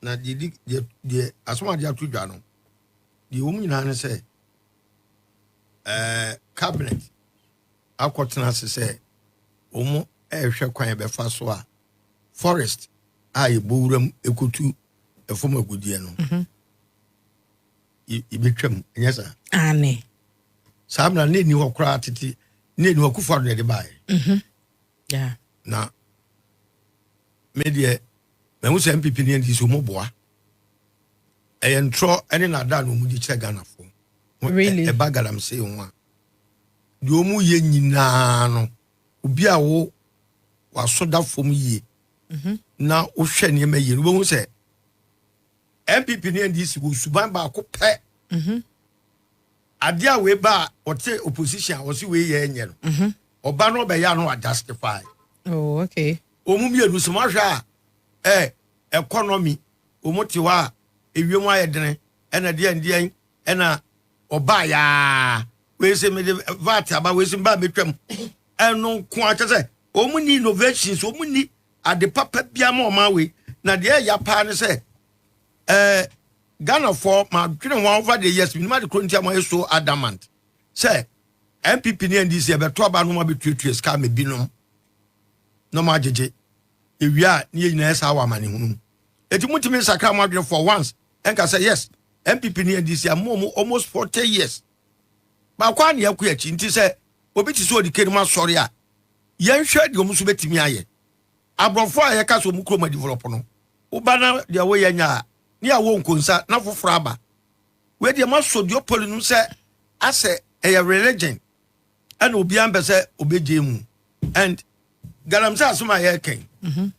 Na deɛ di deɛ deɛ asɛm a wɔde ato dwa no deɛ ɛwɔ mu nyinaa ne sɛ ɛɛ cabinet akɔtena ase sɛ wɔn ɛrehwɛ kwan ɛbɛfa so a forest a yɛbɔ wuram ɛkɔtu ɛfam agudeɛ no mhm. yɛbɛtwam ɛnyɛ saa ane saa mmara ne ɛni hɔ koraa tete ne ɛni hɔ kufa do na ɛde baeɛ mhm. na medeɛ Mahu sɛ NPP ne NDC wɔn boa. Ɛyɛ ntorɔ ne naadaa na wɔn di kyerɛ Ghanafoɔ. Really? Ɛ- ɛba galamsey ho a. Deɛ wɔn yɛ nyinaa no, obi a wo waso da fam yie na wohwɛ nneɛma yie no, wobɛhu sɛ NPP ne NDC wɔ suban baako pɛ. Adeɛ a wei ba a ɔte opposition a ɔse wei yɛ nyɛ no, ɔba no ɔbɛyɛ a na wadustify. Oh, okay. Wɔn mu mmienu, sɛ moahwɛ a, ɛ, ɛkɔnɔmi, wɔn te hɔ a, ewiem ayɛ dene, ɛna deɛn deɛn, ɛna ɔbaa yaa, wei se mede VAT aba, wei se mbaa mɛtwam, ɛno nkoa, kyɛ sɛ, wɔn nni innovations, wɔn nni ade papa biara ma ɔman wei, na deɛ ɛya paa ne sɛ, ɛ, Ghanafoɔ, madwene ho over the years, menim ade korɔ nti a moayɛ so adamant, sɛ, NPP ne NDC ɛbɛto aba no ma bɛtuatua sika ama binom. na ɔmo agyegye. Yɛwie a ne yɛn nyinaa yɛ saa wɔ amanehunu mu. Enti mo ntumi nsakra mo adwene for once nka sɛ yes NPP ne NDC ama ɔmo almost 40 years. Baako ara na yɛkɔ akyi nti sɛ obi te sɛ Odike nom asɔre a yɛn hwɛ deɛ ɔmo nso bɛtumi ayɛ. Aborɔfo a yɛka sɛ ɔmo kurom adevelop no wo ba na deɛ wo yɛ nyɛ a ne yɛ awɔ nkonsa na foforɔ aba. Wei deɛ mo asɔ duopoli nom sɛ asɛ ɛyɛ religion ɛna obiara mpɛ sɛ ɔbɛgye mu and galamsey asom a yɛreka yi mhm.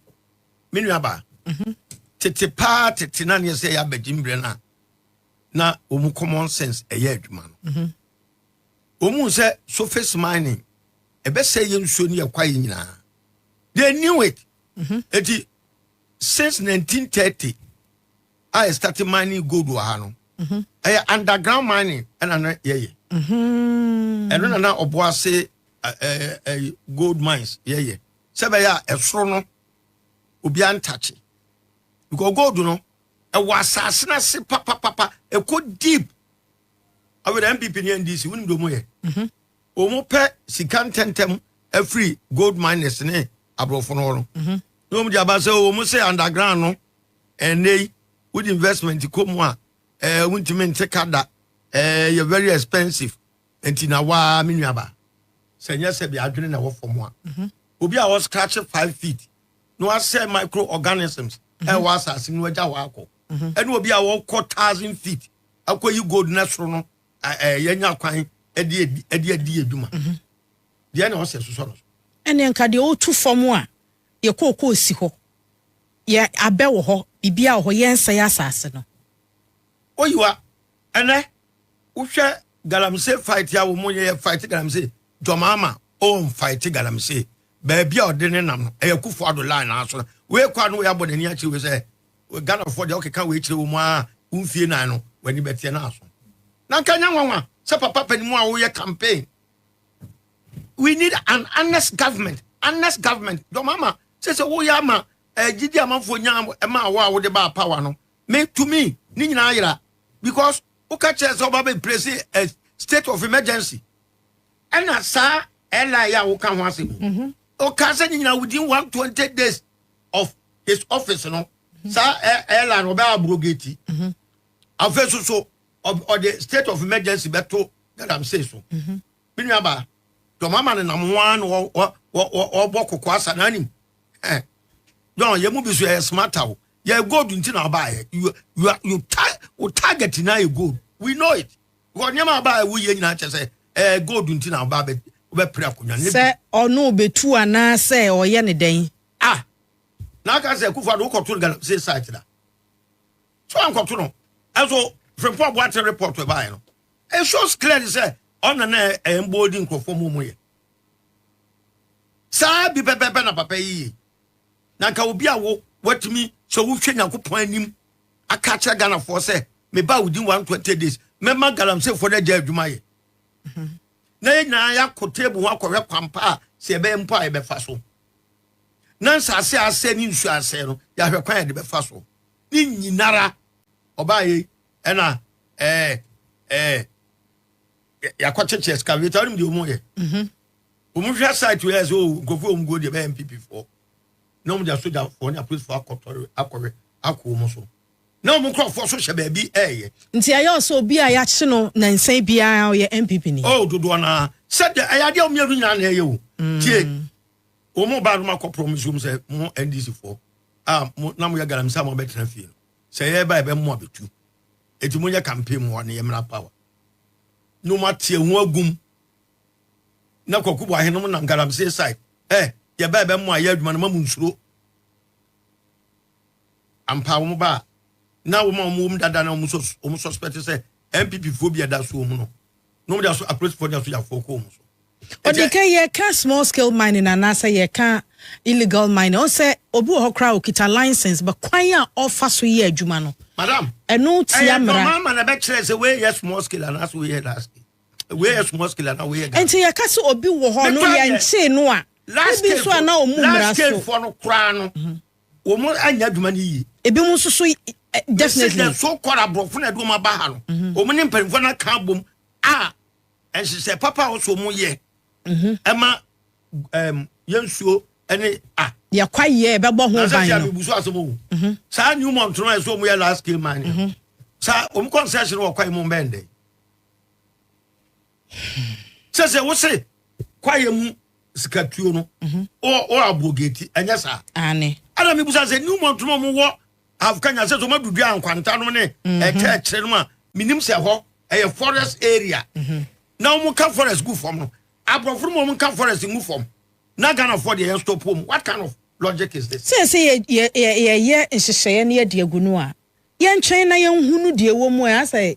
me nuaba mhm. tete paa tete na neɛ sɛ yɛ abɛgye mbrɛ no a na wɔn common sense ɛyɛ adwuma no mhm. wɔn mu sɛ surface mining ɛbɛsɛ yɛ nsuo ne yɛ kwaeɛ nyinaa they knew it eti since 1930 a yɛ starte mining gold wɔ ha no ɛyɛ under ground mining ɛna na yɛ yɛ ɛno na na ɔbo ase gold mines yɛ yɛ sɛ bɛyɛ a ɛsoro no obi antakye because gold no ɛwɔ asase no ase papapapa ɛkɔ deep awɛdɛ npp ne ndc wonim de ɔmo yɛ ɔmo pɛ sika ntɛntɛm afiri gold miners ne aborɔfo no hɔ no na ɔmo de aba sɛ ɔmo sɛ underground no Ɛnnɛ yi wode investment kɔ mu a ɛɛ wontumi nte ka da ɛɛ ɛyɛ very expensive nti na waa me nua ba sɛ nyɛ sɛ bi adwene na ɛwɔ fam a mhm. obi a ɔscratch five feet na wasɛ microorganisms mhm. ɛwɔ asase no agya hɔ akɔ mhm. ɛne obi a wɔkɔ thousand feet akɔyi gold na soro no ɛɛ yɛnya kwan ɛde ɛde ɛde adwuma deɛ na ɔsɛ sosɔ no so. ɛne nka deɛ ɔtu fam a Yɛ kookoo si hɔ. Yɛ abɛ wɔ hɔ. Biribiara wɔ hɔ. Yɛ nsɛe asase no. O Yehowa, ɛnɛ wo hwɛ galamsey fight a wɔn yɛ yɛ fight galamsey John Mahama o n fight galamsey baabi a ɔde ne nam no ɛyɛ Akufo Addo line naa so na wei kɔ a na wei abɔ n'ani akyerɛ wei sɛ Ghana foɔ deɛ ɔkeka wei kyerɛ wɔn aa wo mfie nan no w'ani bɛteɛ naa so na nka nyɛ nwanwa sɛ papa panimu a wo yɛ campaign we need an honest government honest government dɔm ama sɛ sɛ woyɛ ama gyidi eh, amanfoɔ nya ɛma awɔ a wode baa power no me to me ne nyinaa yera because woka kyerɛ sɛ woba bɛ place a eh, state of emergency ɛna saa ɛla yɛ a woka ho asɛm mhm. woka sɛ ne nyinaa within 120 days of his office no mhm. saa ɛla no ɔbɛyɛ abrogate mhm. afei so so ɔde state of emergency bɛto galamsey so Me nua baa, John Mahama ne nam ho ara na wɔ wɔ wɔ wɔ wɔbɔ koko asa na anim. Eh, John, yɛn mu bi so yɛyɛ smart o. Yɛyɛ gold nti na ɔbaa yɛ. You you are- you ta wo target na yɛ gold. We know it. Wɔ nneɛma a ɔbaa yɛ woyɛ nyinaa kyɛ sɛ ɛyɛ gold nti na ɔbaa bɛ wobɛpere akonnwa no. Sɛ ɔno obetu anaa sɛ ɔyɛ ne dɛn. Ah, na aka sɛ Akufo Addo wokɔto no galamsey site da. So ankɔto no. Ɛnso Frimpong Boateng report ɛbaeɛ no, It shows clearly sɛ ɔna na ɛyɛ mboa odi nkurɔfoɔ mu ɔmo yɛ saa bi pɛpɛpɛ na papa yi yɛ na nka obi a wo watumi sɛ wohwɛ Nyankopɔn anim aka akyerɛ Ghanafoɔ sɛ meba within 120 days mɛma galamseefoɔ no agya adwuma yɛ mhm. na yɛ nyinaa yɛakɔ table ho akɔhwɛ kwampa a sɛ yɛbɛyɛ mpo a yɛbɛfa so na nsase asɛ ne nsu asɛ no yɛahwɛ kwan yɛde bɛfa so ne nyinara ɔbaa yɛ Ɛna ɛɛ ɛɛ yakɔ kyekye excavator ɔnim deɛ ɔmo yɛ ɔmo hwɛ site wei ɛsɛ o oh, nkurɔfoɔ ɔmo guo deɛ bɛyɛ npp foɔ na ɔmo de asogyafoɔ ne apolisifoɔ akɔtɔre akɔhwɛ akɔ ɔmo so na ɔmo nkurɔfoɔ so hyɛ baabi ɛɛyɛ. nti ɛyɛ ɔsɛ obi a yɛakye no nansa biara ɔyɛ npp ni. o oh, dodoɔ naa sɛ deɛ ɛyɛ adeɛ ɔmo yɛ no nyinaa na ɛyɛ o mm. tie ɔmo ba no ma kɔ promise ɔmo sɛ mo ndc foɔ a mo na mo yɛ galamsey a mo abɛtena fie no Sɛ yɛ ba yɛ bɛ mo abetu. Eti mo nyɛ campaign moa ne yɛ mmra power no mo ateɛ ho agum na kwaku boahe nom nam galamsey side eh yɛ ba yɛ bɛ mo ayɛ adwuma no ma mo nsuro ampa wɔn ba a na wɔn a wɔn wɔm dada na wɔn wɔn suspect sɛ NPP foɔ bi ɛda so wɔn no na wɔn de aso apolisifoɔ de aso yafoɔ kɔn mu so. ɔde ka yɛka small scale mining anaasɛ yɛka illegal mining ɔn sɛ obi wɔ hɔ koraa okita license ba kwan a ɔfa so yɛ adwuma no madam ɛno tia mmara ɛyɛ dɔmama na ɛbɛkyerɛ sɛ wei yɛ small scale anaasɛ wei yɛ large scale wei yɛ small scale anaa wei yɛ large nti yɛka sɛ obi wɔ hɔ no yɛnkyee no a ebi nso a na ɔmu mmara so large scale foɔ no koraa no mhm. wɔn anya adwuma no yie. ebinom nso so definitely. ɛsɛ so kɔrɔ aborɔfo na ɛde wɔn aba ha no mhm. wɔn ne mpanyinfoɔ no aka abom a nhyehyɛ papa a wɔsɔ wɔn yɛ mhm. ɛma ɛm yɛn nsuo ɛne a. yɛkwa yie ɛbɛbɔ ho ban no na sɛ sɛ abibu so asɛm o mhm. saa new mont no ɛsɛ wɔn yɛ last game man saa wɔn kɔnsɛs no wɔ kwan mu bɛn dɛ. Sɛ sɛ wo se kwaeɛ mu sikatuo no wɔ Abogate ɛnyɛ saa? Aane. Ɛna mebusa sɛ New Mountain no ɔmo wɔ Half Kenya sɛ sɛ ɔmo adudua Ankwanta no ne ɛkyɛ ɛkyerɛ no a menim sɛ hɔ ɛyɛ forest area na ɔmo nka forest gu fam no aborɔfo no ma ɔmo nka forest ngu fam na Ghanafoɔ deɛ yɛn stop ɔmo what kind of logic is this? Sɛ sɛ yɛ yɛ yɛ yɛyɛ nhyehyɛeɛ no yɛde agu no a yɛntwɛn na yɛnhunu deɛ ɛwɔ mu a ɛha sɛ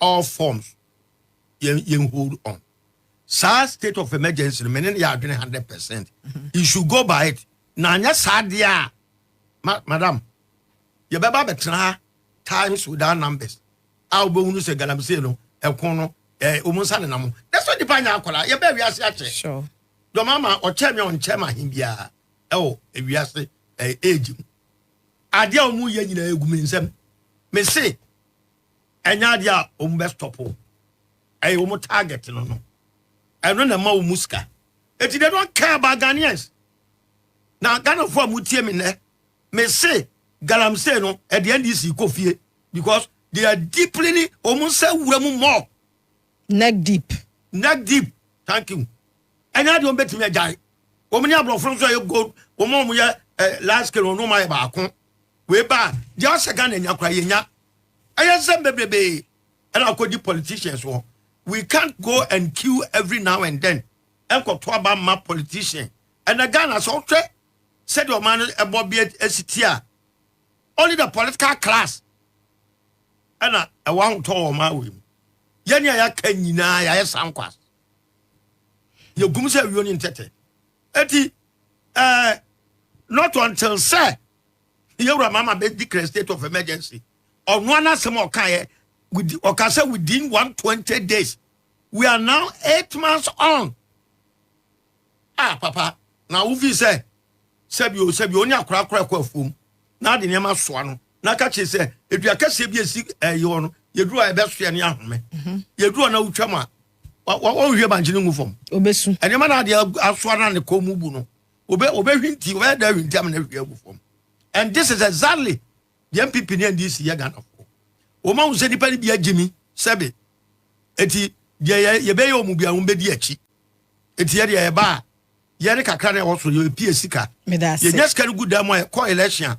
all forms yɛn yɛn hold on saa state of emergency no mene ne yɛ adwene hundred percent mm-hmm. you should go by it na anyɛ saa deɛ a ma madam yɛbɛba bɛtena ha times without numbers a wobɛhunu sɛ galamsey no ɛko no ɛɛ wɔn nsa nenam ho na sɛ nipa nyɛ akwadaa yɛbɛ wiase akyɛ dɔm ama ɔkyɛ mi ɔnkyɛ ma ahen biara ɛwɔ wiase ɛɛ age mu adeɛ a wɔn yɛ nyinaa egu mi nsam mese. ɛnyɛ adeɛ a wɔn bɛ stop wo ɛyɛ wɔn target no no ɛno na ɛma wɔn sika eti they don't care about Ghanaians na Ghanafoɔ a mo tie mi nɛ me se galamsey no ɛde NDC kɔ fie because they are deeply ni wɔn nsa wura mu more neck deep neck deep thank you ɛnyɛ adeɛ wɔn bɛtumi agyae wɔn ne aborɔfo nso a yɛ gold wɔn a wɔn yɛ eh, light skin wɔn ma yɛ baako Wei ba a deɛ ɔsɛ Ghana nya koraa yɛnya. Ɛyɛ nsɛm bebrebee ɛna akɔdi politicians hɔ. We can't go and queue every now and then ɛnkɔto aba mma politician. Ɛnɛ Ghana sɛ wohwɛ sɛdeɛ ɔman no ɛbɔ bi ɛsi ti a, only the political class ɛna ɛwɔ ahotɔ wɔ ɔman wei mu. Yɛne a yɛaka nyinaa yɛayɛ sankwas. Yɛgum sɛ awio ne ntɛtɛ. Eti Eh, not until sɛ yɛwura mama bɛ declare state of emergency ɔno ana asɛm a ɔka yɛ ɔka sɛ within 120 days we are now eight months on ah papa na wofi sɛ sɛbi o sɛbi o ne akorakora ɛkɔ afuom na ade nneɛma soa no na ka kyerɛ sɛ edua kɛseɛ bi esi ɛyi hɔ no yɛduru a ɛbɛsoɛ ne ahome mhm. yɛduru a na wotwa mu a wɔnhwie bankye no ngu fam obesu nneɛma no adeɛ asoa no a ne kɔn mu bu no obɛhwinti obɛyɛ dɛ ahwinti ama no ahwie agu fam and this is exactly the npp ne ndc yɛ ghanafoɔ wɔn ahu sɛ nipa no bi agye mi sɛbe eti deɛ yɛbɛyɛ wɔn bi a wɔn bɛdi akyi eti yɛ deɛ yɛba a yɛne kakra na ɛwɔ so yɛpie sika yɛnya sika no gu dan mu a yɛkɔ election a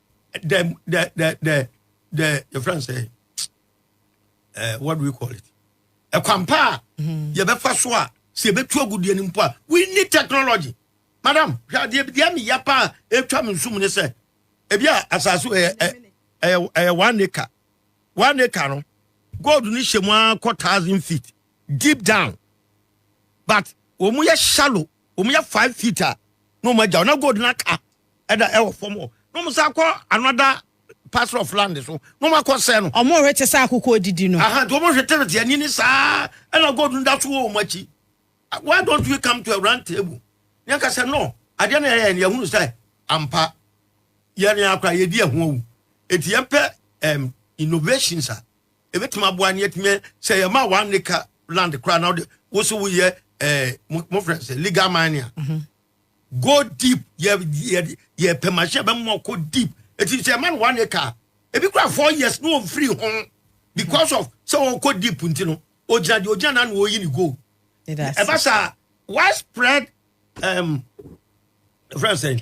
the the the the the your friend say uh, what do we call it ɛkwampa a mm-hmm. yɛbɛfa so a sɛ yɛbɛtu agudeɛ no mpo a we need technology madam hwɛ adeɛ bi deɛ meya pa a ɛtwa me nsum ne sɛ ebi a asase ɛyɛ ɛyɛ one acre one acre no gold no hyɛ mu ara kɔ thousand feet deep down but wɔn yɛ shallow Wɔn yɛ five feet a na wɔn agyaw na gold no aka ɛda ɛwɔ fam hɔ na wɔn san akɔ another parcel of land so na wɔn akɔ sɛɛ no. Wɔn hwete sɛ akokɔ odidi no. Aha nti wɔn hwete hwete ani ne saa ɛna gold no da so wɔ wɔn akyi why don't we come to a round table na yɛn ka sɛ no adeɛ na yɛyɛ no yɛhunu sɛ ampa yɛn yɛn akora yɛdi ɛho awu eti yɛn pɛ um, innovations a ebetumi aboa ne yɛtumi sɛ yɛma one acre land koraa na wode wo so woyɛ ɛɛ eh, mofrɛ sɛ legal mining a mhm. go deep yɛ yɛ yɛ pɛ machine bɛ mɔ kɔ deep eti sɛ ɛma no one acre ebi kura four years no wɔn firi ho because of sɛ wɔn kɔ deep nti no ogyina deɛ ogyina na na wɔyi ne gold ɛba saa widespread um, friend sɛ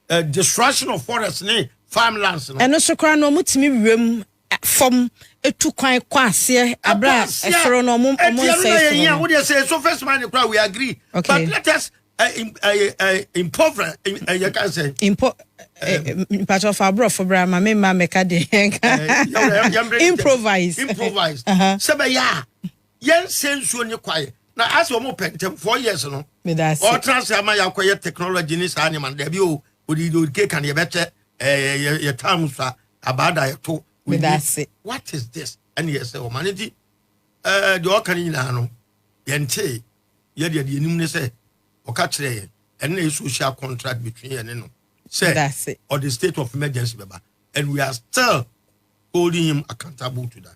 uh, destruction of forest ne farmlands no. ɛno so koraa no wɔn tumi wiem fam tu kwan kɔ aseɛ abira ɛsoro no ɔmo ɔmo nsa esoro no. Wode ɛsɛ so first man kura we agree. Okay. But let us uh, uh, impover uh, you can say. Impo. Mpatsɔ fa aborɔfo bra ma mi ma mɛka de nka. Improvise. Improvise. Sɛ bɛ yɛ a yɛn sɛ nsuo nye kwae na asɛ wɔn pɛ ntɛm four years no. Ɔtena ase ama yɛ akɔyɛ technology ne saa nneɛma dɛbi o odidi odike kan yɛ bɛ kyɛ Ɛɛ yɛ yɛ taa mu sa abaada yɛ to. Meda ase. What is this? Ɛne yɛ sɛ ɔma ne ti. Ɛɛ deɛ ɔka ne nyinaa no yɛ ntee. Yɛ deɛ deɛ nim ne sɛ ɔka kyerɛ yɛ ɛne na yɛ social contract between yɛ ne no sɛ ɔde state of emergency bɛba and we are still holding him accountable to that.